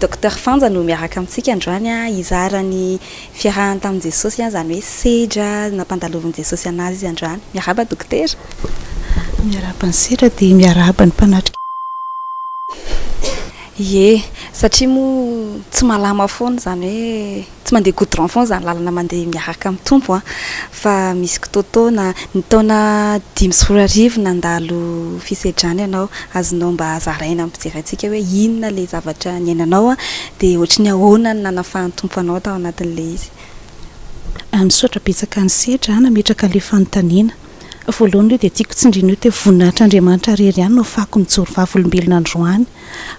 Docteur Fanja no miaraka amintsika androany hizara ny fiarahany tamin'i Jesosy izany hoe sedra nampandaloviny Jesosy an'azy izy androany. Miarahaba Dokotera. Miarahaba an'i Sedra dia miarahaba ny mpanatrika. Ie, satria moa tsy malama foana izany hoe. Tsy mandeha goudron foana izany lalana mandeha miaraka amin'ny Tompo an! Fa misy kitoatoana. Ny taona dimy sy roa arivo nandalo fisedrana ianao, azonao mba zaraina amin'ny mpijery antsika hoe inona ilay zavatra niainanao an? Dia ohatry ny ahoana no nanafahan'ny Tompo anao tao anatin'ilay izy? Misaotra betsaka an'i Sedra nametraka ilay fanontaniana. Voalohany aloha dia tiako tsindriana eo te voninahitr' Andriamanitra rery ihany no afahako mijoro vavolombelona androany.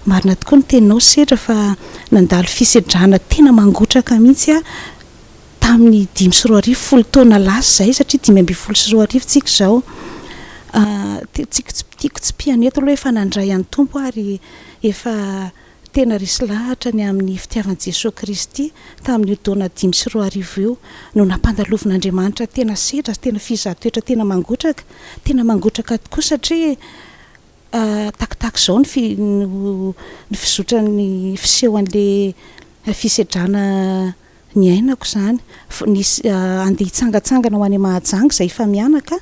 Marina tokoa ny teninao Sedra fa nandalo fisedrana tena mangotraka mihitsy aho tamin'ny dimy sy roa arivo, folo taona lasa izay satria dimy ambin'ny folo sy roa arivo tsika izao. Tiako tsipihana eto aloha efa nandray an'ny Tompo aho ary efa tena resy lahatra ny amin'ny fitiavan'i Jesoa Kristy tamin'io taona dimy sy roa arivo io no nampandalovin'Andriamanitra tena sedra sy tena fizahan-toetra tena mangotraka, tena mangotraka tokoa satria Takotako izao ny fizotran'ny fiseho an'ilay fisedrana niainako izany. Nisy andeha hitsangatsangana ho any Mahajanga izay efa mianaka,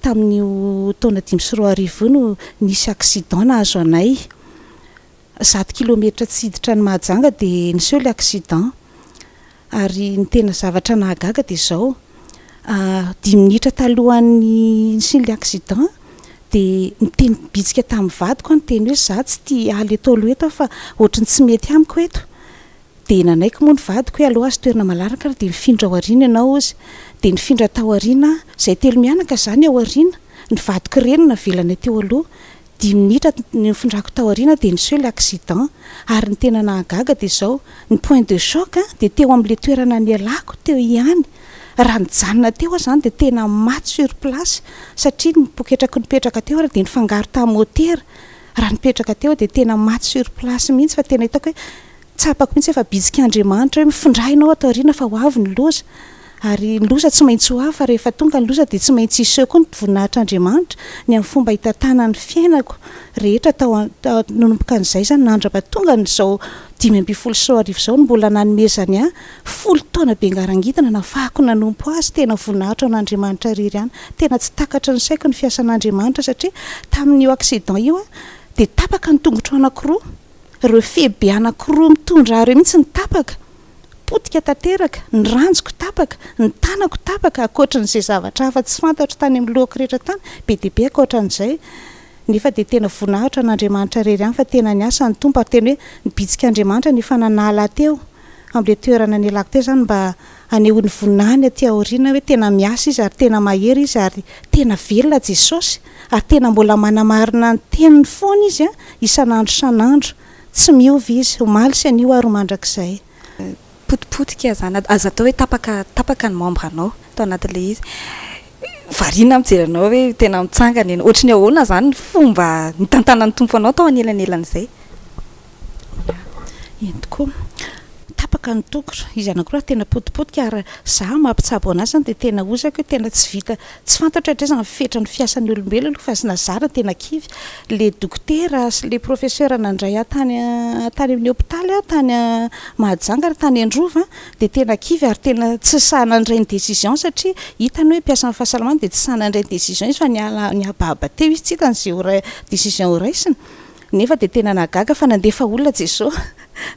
tamin'io taona dimy sy roa arivo io no nisy accident nahazo anay. Zato kilometatra tsy hiditra any Mahajanga dia niseho ilay accident. Ary ny tena zavatra nahagaga dia izao, dimy minitra talohan'ny nisian'ilay accident dia niteny bitsika tamin'ny vadiko aho niteny hoe za tsy tia aly eto aloha eto aho fa ohatry ny tsy mety amiko eto dia nanaiky moa ny vadiko hoe aleo azo toerana malalaka ary dia nifindra ao aoriana ianao ozy dia nifindra tao aoriana aho, izay telo mianaka izany ao aoriana, ny vadiko ireny navelanay teo aloha. Dimy minitra nifindrako tao aoriana dia niseho ilay accident ary ny tena nahagaga dia izao, ny point de choc dia teo amin'ilay toerana nialako teo ihany, raha nijanona teo aho izany dia tena maty sur place satria ny poketraky nipetraka teo ary dia nifangaro tamin'ny motera, raha nipetraka teo aho dia tena maty sur place mihitsy fa tena hitako hoe Tsapako mihitsy fa bitsik'Andriamanitra hoe mifindra ianao ato aoriana fa ho avy ny loza ary ny loza tsy maintsy ho avy fa rehefa tonga ny loza dia tsy maintsy hiseho koa ny voninahitran'Andriamanitra ny amin'ny fomba hitantanany ny fiainako rehetra tao nanomboka an'izay izany nandraba tonga an'izao dimy ambin'ny folo sy roa arivo izao no mbola nanomezany ahy folo taona be ngarangidina nafahako nanompo azy tena voninahitra ho an'Andriamanitra irery ihany tena tsy takatry ny saiko ny fiasan'Andriamanitra satria tamin'io accident io aho dia tapaka ny tongotro anakiroa Ireo fehy be anankiroa mitondra ahy ireo mihitsy no tapaka. Potika tanteraka, ny ranjoko tapaka, ny tanako tapaka, ankoatran'izay zavatra hafa tsy fantatro tany amin'ny lohako rehetra tany, be dia be ankoatran'izay. Nefa dia tena voninahitra an'Andriamanitra irery ihany fa tena niasa ny Tompo ary tena hoe nibitsika Andriamanitra ny efa nanala ahy teo. amin'ilay toerana nialako teo izany mba hanehoany voninahiny aty aoriana hoe tena miasa izy ary tena mahery izy ary tena velona Jesosy ary tena mbola manamarina ny teniny foana izy isan'andro isan'andro tsy miova izy omaly sy anio ary ho mandrakizay. Potipotika izany, aza atao hoe tapaka tapaka ny membre anao tao anatin'ilay izy, variana aho mijery anao hoe tena mitsangana ianao, ohatry ny ahoana izany ny fomba nitantanan'ny Tompo anao tao anelanelan'izay? Ya, eny tokoa. Tapaka ny toko. Izy anakiroa ary tena potipotika ary za mampitsabo anazy zany dia tena hozako hoe tena tsy vita, tsy fantatro hatrizay izany ny fetra ny fiasan'ny olombelona aloha fa nazara dia tena kivy le dokotera sy le professeur nandray ahy tany tany amin'ny hopitaly aho tany Mahajanga ary tany Androva dia tena kivy ary tena tsy sahy nandray ny décision satria hitany hoe mpiasan'ny fahasalamana dia tsy sahy nandray ny décision izy fa niala nihabahaba teo izy tsy hitany izay ho ra- décision horaisina Nefa dia tena nahagaga fa nandefa olona Jeso.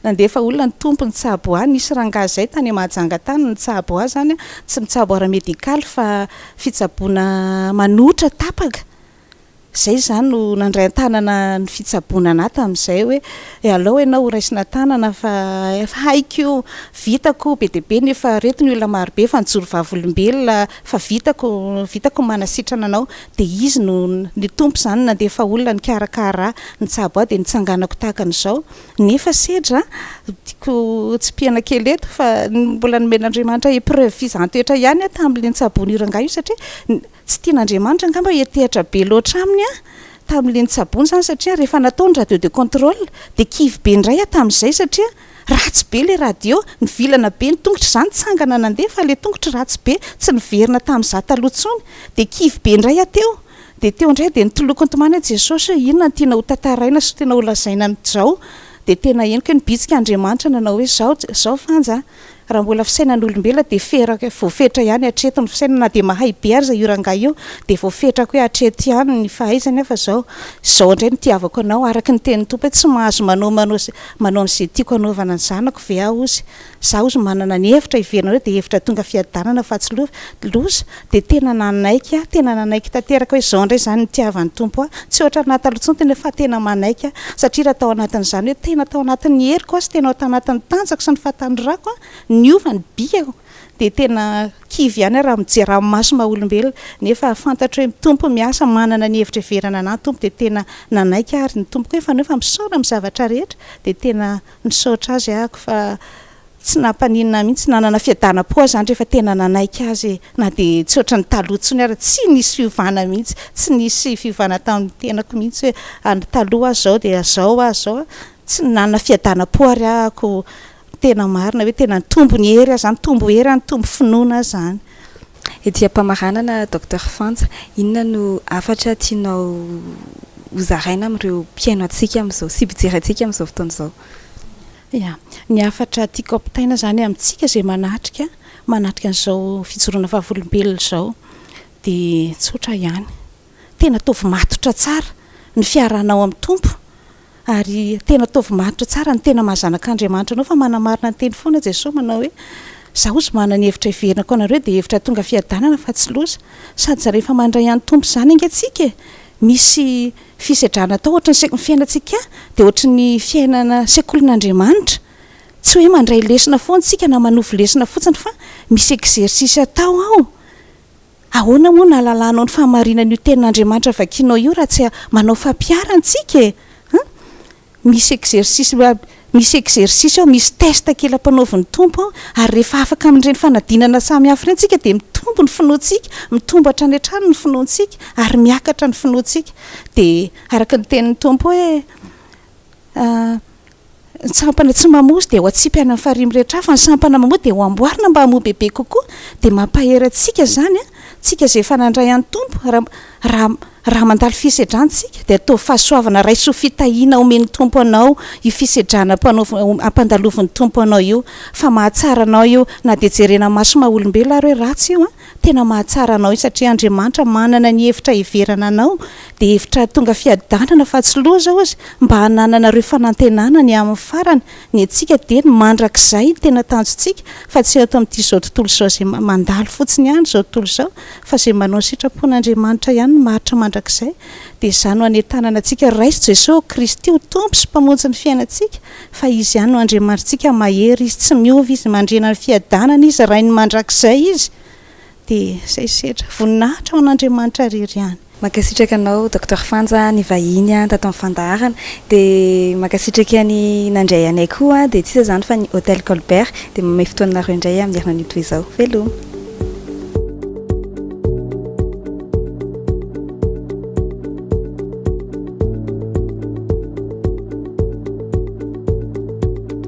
Nandefa olona ny Tompo nitsabo ahy. Nisy rangahy zay tany Mahajanga tany nitsabo ahy zany an. Tsy mitsabo ara medical fa fitsaboana manotra tapaka. Zay za no nandray antanana ny fitsaboana anah tamizay hoe alao enao ho raisina tanana fa efa haiko io. Vitako be dia be nefa reto ny olona marobe fa nijoro vavolombelona fa vitako vitako ny manasitrana anao. Dia izy no ny Tompo izany nandefa olona nikarakara ahy, nitsabo ahy dia nitsanganako tahaka an'izao. Nefa sedra, tiako tsipihana kely eto fa mbola nomen'Andriamanitra épreuve fizaham-petra ihany aho tamin'ilay nitsaboan'io rangahy io satria tsy tian'Andriamanitra angamba hiantehatra be loatra aminy aho tamin'ilay nitsaboany izany satria rehefa natao ny radio de contrôle dia kivy be indray aho tamin'izay satria Ratsy be le radio, nivilana be ny tongotra za nitsangana nandeha fa le tongotro ratsy be, tsy niverina tam za taloha tsony, de kivy be ndray aho teo, de teo ndray de nitoloko nitomany aho Jesosy hoe inona no tianao ho tantaraina sy tena ho lazaina an izao, de tena henoko hoe nibitsika Andriamanitra nanao hoe zao, zao Fanja a, Raha mbola fisainan'olombelona dia ferako voafetra ihany hatreto ny fisainana na dia mahay be aza io rangahy io dia voafetrako hoe hatreto ihany ny fahaizany fa zao zao indray no tiavako anao araka ny tenin'ny Tompo hoe tsy mahazo manao manao manao an'izay tiako anaovana ny zanako ve aho ozy za ozy manana ny hevitra hiverina anareo dia hevitra tonga fiadanana fa tsy loza Dia tena nanaiky aho, tena nanaiky tanteraka hoe izao indray izany ny tiavan'ny Tompo ahy. Tsy ohatra ny naha taloha intsony tena fa tena manaiky aho. Satria raha tao anatin'izany hoe tena tao anatin'ny heriko aho sy tena tao anatin'ny tanjako sy ny fahatanorako niova ny bikako dia tena kivy ihany aho raha mijery amin'ny maso maha olombelona. Nefa fantatro hoe ny Tompo miasa, manana ny hevitra hiverana anah ny Tompo dia tena nanaiky aho ary ny Tompoko hoe fanao fa misaona amin'ny zavatra rehetra dia tena misaotra Azy ahako fa Tsy nampaninona mihitsy, nanana fiadanam-po aho izany rehefa tena nanaiky azy e! Na dia tsy ohatran'ny taloha intsony ary, tsy nisy fiovana mihitsy, tsy nisy fiovana tao amin'ny tenako mihitsy hoe any taloha aza izao dia izao aza izao a! Tsy nanana fiadanam-po ary aho ko tena marina hoe tena nitombo ny hery aho izany, nitombo hery aho, nitombo finoana aho izany. Ety am-pamaranana, Docteur Fanja, inona no hafatra tianao hozaraina amin'ireo mpihaino antsika amin'izao sy mpijery antsika amin'izao fotoana izao? Ia. Ny hafatra tiako ampitaina izany amintsika izay manatrika, manatrika an'izao fijoroana vavolombelona izao dia tsotra ihany. Tena ataovy matotra tsara ny fiarahanao amin'ny Tompo ary tena ataovy matotra tsara ny tena maha zanak'Andriamanitra anao fa manamarina ny teny foana Jesoa manao hoe, Izaho izao manana ny hevitra heverinako anareo dia hevitra tonga fiadanana fa tsy loza. Sady rehefa mandray an'i Tompo izany ange tsika e, misy Fisedrana atao ohatry ny se ny fiainantsika dia ohatry ny fiainana sekolin'Andriamanitra, tsy hoe mandray lesona foana isika na manovo lesona fotsiny fa misy exercice atao ao. Ahoana moa no hahalalanao ny fahamarinan'io tenin'Andriamanitra vakianao io raha tsy manao fampiharana isika e! Misy exercice misy exercice ao, misy test kely ampanaovin'ny Tompo ao, ary rehefa afaka amin'ireny fanadinana samy hafa ireny tsika dia mitombo ny finoantsika, mitombo hatrany hatrany ny finoantsika, ary miakatra ny finoantsika. Dia araka ny tenin'ny Tompo hoe, Ny sampana tsy mamoa dia ho atsipy any amin'ny farihy mirehitra hafa, ny sampana mamoa dia ho amboarina mba hamoa bebe kokoa. Dia mampahery antsika izany, tsika izay efa nandray an'ny Tompo, raha, raha, Raha mandalo fisedrantsika dia ataovy fahasoavana, raiso fitahiana omen'ny Tompo anao io fisedrana ampandaloviny Tompo anao io, fa mahatsara anao io na dia jerena maso maha olombelona ary hoe ratsy io an, tena mahatsara anao io satria Andriamanitra manana ny hevitra heverana anao dia hevitra hahatonga fiadanana fa tsy loza ozy mba hanananareo fanantenana ny amin'ny farany, Ny antsika dia ny mandrakizay no tena tanjontsika fa tsy eto amin'ity izao tontolo izao izay mandalo fotsiny ihany izao tontolo izao fa izay manao ny sitrapon'Andriamanitra ihany no maharitra mandrakizay dia izany no hanentanana antsika raiso Jesosy Kristy ho Tompo sy Mpamonjy ny fiainantsika fa Izy ihany no Andriamanitrtsika mahery Izy tsy miova Izy mandriana ny fiadanana Izy Rain'ny mandrakizay Izy dia saisetra. Voninahitra ho an'Andriamanitra irery ihany. Mankasitraka anao Docteur Fanja nivahiny tato amin'ny fandaharana. Dia mankasitraka ny nandray anay koa dia tsy iza izany fa ny Hotel Colbert. Dia manome fotoananareo indray amin'ny herinanio toy izao. Veloma.